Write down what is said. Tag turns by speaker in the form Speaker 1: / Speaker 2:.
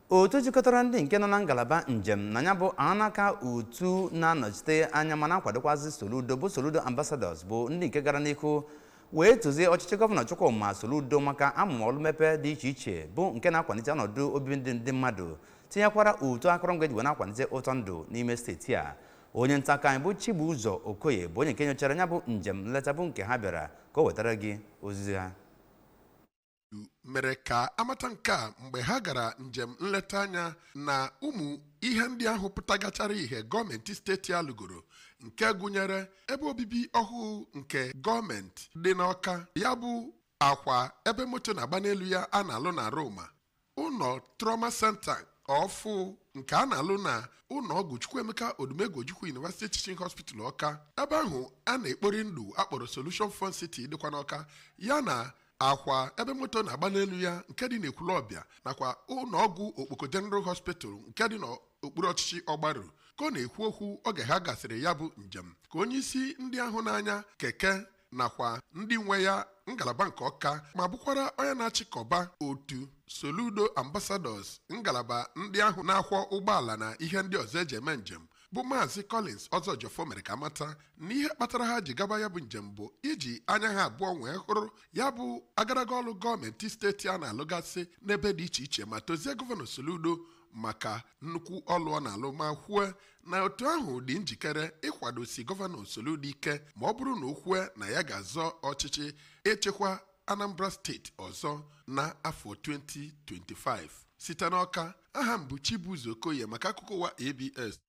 Speaker 1: otu jikọtara ndị nke nọ na ngalaba njem na ya bụ anaka otu na-anọchite anya ma na-akwadokwazi Soludo bụ Soludo Ambassadors bụ ndị nke gara n'ihu wee tozie ọchịchị gọvanọ Chukwuma Soludo maka amụma ọlụ mmepe dị iche iche bụ nke na-akwalite ọnọdụ obibi ndị ndị mmadụ tinyekwara otu akụrụngwa eji wee na-akwalite ụtọ ndụ n'ime steeti a onye nta akụkọ anyị bụ Chibuzo Okoye bụ onye nke nyochara ya bụ njem nleta bụ nke ha bịara ka o wetara gị ozizi ha
Speaker 2: mere ka a mata nke a mgbe ha gara njem nleta anya na ụmụ ihe ndị ahụ pụtagachara ihe gọọmenti steeti a lụgoro nke gụnyere ebe obibi ọhụụ nke gọọmenti dị n'ọka ya bụ akwa ebe moto na-agba n'elu ya a na-alụ n'Aroma ụlọ trauma center ọfụ nke a na-alụ na ụlọ ọgwụ chukwuemeka odumegwu ojukwu university teaching hospital ọka ebe ahụ a na-ekpori ndụ a kpọrọ solution fun city dịkwa n'ọka ya na akwa ebe moto na-agba n'elu ya nke dị n'ekwulọbịa nakwa ụlọ ọgwụ okpoko general hospital nke dị n'okpuru ọchịchị ọgbaru ka ọ na-ekwu okwu oge ha gasịrị ya bụ njem ka onye isi ndị ahụ na-anya keke nakwa ndị nwe ya ngalaba nke ọka ma bụkwara onye na-achịkọba otu soludo ambassadors ngalaba ndị ahụ na-akwọ ụgbọala na ihe ndị ọzọ eji eme njem bụ maazị collins ọzọjiọfọ mere ka a mata na ihe kpatara ha ji gaba ya bụ njem bụ iji anya ha abụọ nwee hụrụ ya bụ agaraga ọlụ gọọmenti steeti a na-alụgasị n'ebe dị iche iche ma tozie gọvanọ soludo maka nnukwu ọlụ ọ na-alụ ma kwue na otu ahụ dị njikere ịkwadosi gọvanọ Soludo ike ma ọ bụrụ na o kwue na ya ga-azọ ọchịchị ịchịkwa Anambra steeti ọzọ na afọ 2025 site n'ọka aha m bụ Chibuzo Okoye maka akụkọ ụwa ABS